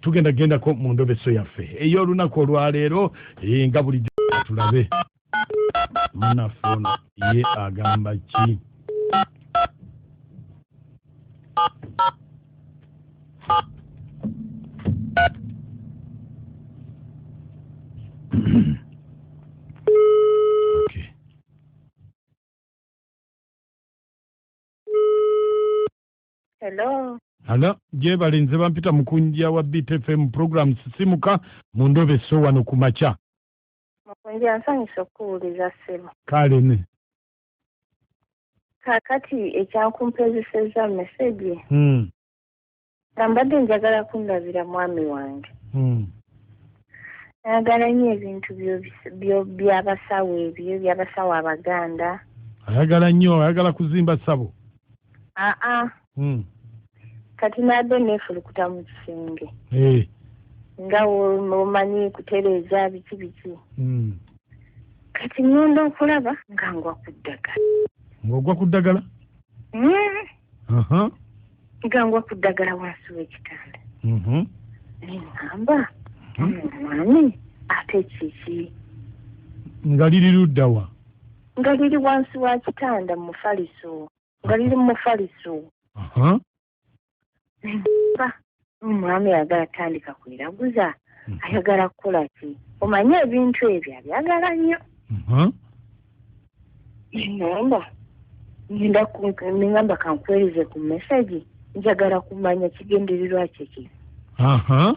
Tugenda gendako mu ndobeso yaffe ey'olunaku olwaleero eh, nga bulijjo tulabe munaffe ono ye agamba ki Hello. Hello, jebale nze bampita mukunja wa BTFM program sisimuka mu ndobe so wano ku makya. Mukunja nsanyusa okukuwuliza ssebo. Kale ne. Kakati ekyankumpezesezza meseji. Hmm. Nambadde njagala kundabira mwami wange. Hmm. Ayagala nnyo ebintu by'abasawo ebyo by'abasawo Abaganda. Ayagala nnyo ayagala kuzimba ssabo. aa ah, ah. hmm. kati naadde neefulukuta mu kisenge eh. nga omanyi kutereeza biki biki hmm. kati ŋŋenda okulaba nga ngwa ku ddagala ng'ogwa ku ddagala hmm. nga ngwa ku ddagala wansi w'ekitanda mm-hmm. neŋŋamba mm-hmm. omwami ate kiki nga liri luddawa Nga liri wansi wa kitanda mu mufaliso. Nga liri mu mufaliso. Uh-huh. Ba, omwami ayagala atandika kweraguza. Mm-hmm. Ayagala kukola ki? Omanyi ebintu ebyo abyagala nnyo. Uh-huh. Namba. Ninda ningamba kankwereze ku message. Njagala kumanya kigendererwa kye ki. Uh-huh.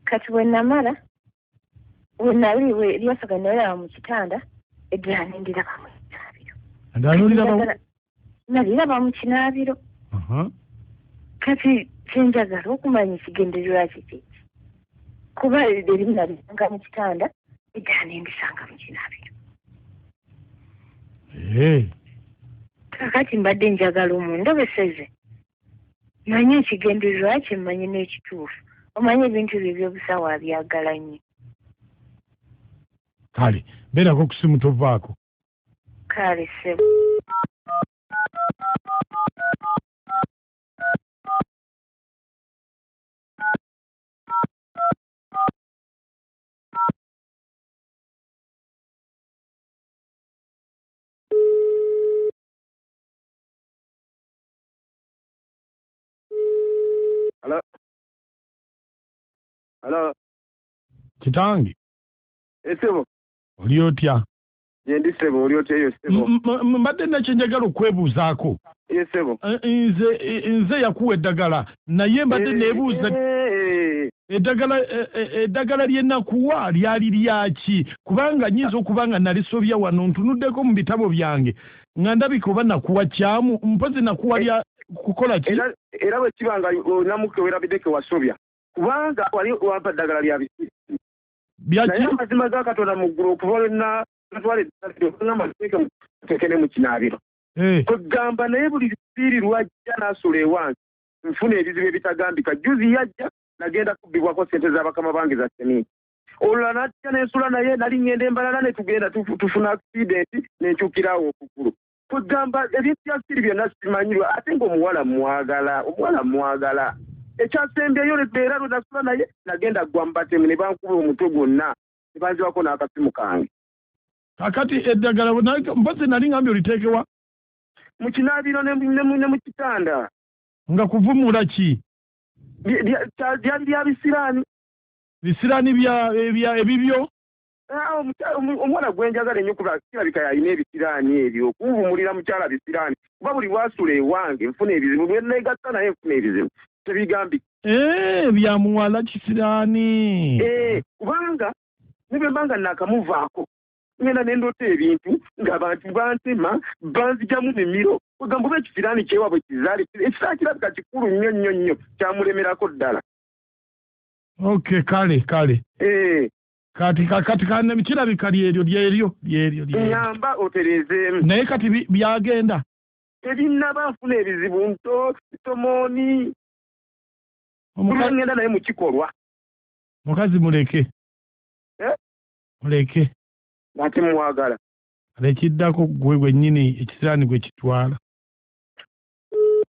kati wenamala wenali lyasaga nalaba mu kitanda eddala nendiraba mu kinaabiro naliraba mu kinaabiro kati kyenjagala okumanya ekigendererwa kiki kuba erimu nalisanga mu kitanda eddala nendisanga mu kinaabiro kakati mbadde njagala omundobeseze Manya ekigendererwa kye mmanyi n'ekituufu. Omanyi ebintu bye eby'obusawo abyagala nnyo. Kale, beerako ku ssimu tovaako. Kale, ssebo. Hello? Hello? Kitange. Esebo. Oli otya? Yendi sebo oli otya yo sebo. Mbadde nakye njagala okwebuuzaako. Ye sebo. Eh, eh, nze eh, nze yakuwa eddagala naye mbadde nebuuza eddagala eddagala lye nakuwa lyali lyaki kubanga nyinza okuba nga nalisobya wano ntunuddeko mu bitabo byange nga ndabika oba nakuwa kyamu mpozi nakuwa lya kukola ki era bwekiba nga onamuke werabideke wasobya kubanga wali wampa ddagala lya bisiru naye amazima ga katonda mu ggulu okuva lwena natwala eddagala tekene mu kinaabiro eh. kwegamba naye buli bisiiri lwajja nasula ewange nfuna ebizibu ebitagambika juzi yajja nagenda kubbibwako sente za bakama bange za semiiti olula natya nensula naye nali ngenda embalala netugenda tufuna accident nenkyukirawo okugulu kwegamba ebintu bya siri byonna simanyirwa ate nga omuwala mwagala omuwala mwagala ekyasembyeyo era lwenasula naye nagenda gwa mubatemu nebankuba omutwe gwonna nebanzibako n'akasimu kange kakati eddagala mpozi nali ngambye oliteekewa mu kinaabiro ne mu kitanda nga kuvumula ki lyali lya bisiraani bisirani bya ebya ebibyo Ah, omukyala- omu- omwana gwenjagala ennyo kuba kirabika yalina ebisiraani ebyo okunvumulira mukyala bisiraani kuba buli wasula ewange nfuna ebizibu bwenegatta naye nfuna ebizibu tebigambi Eh, bya muwala kisirani Eh, kubanga nebwembanga nakamuvaako ngenda nendoota ebintu ng'abantu bantema banzijamu mimiro ogamba oba ekisiraani kyewabwe kizaali ekisiraani kirabika kikulu nnyo nnyo nnyo kyamulemerako ddala Okay, kale kale. Eh. Kati kati kanne bikira bikali eryo lyeryo lyeryo lyeryo. Ngamba oterezeemu. Naye kati byagenda. Tebinnaba nfuna ebizibu nto tomoni. Omukazi ngenda naye mu kikolwa. Mukazi muleke. Eh? Muleke. Ate mwagala. Lekiddako gwe gwennyini ekisiraani gwe kitwala.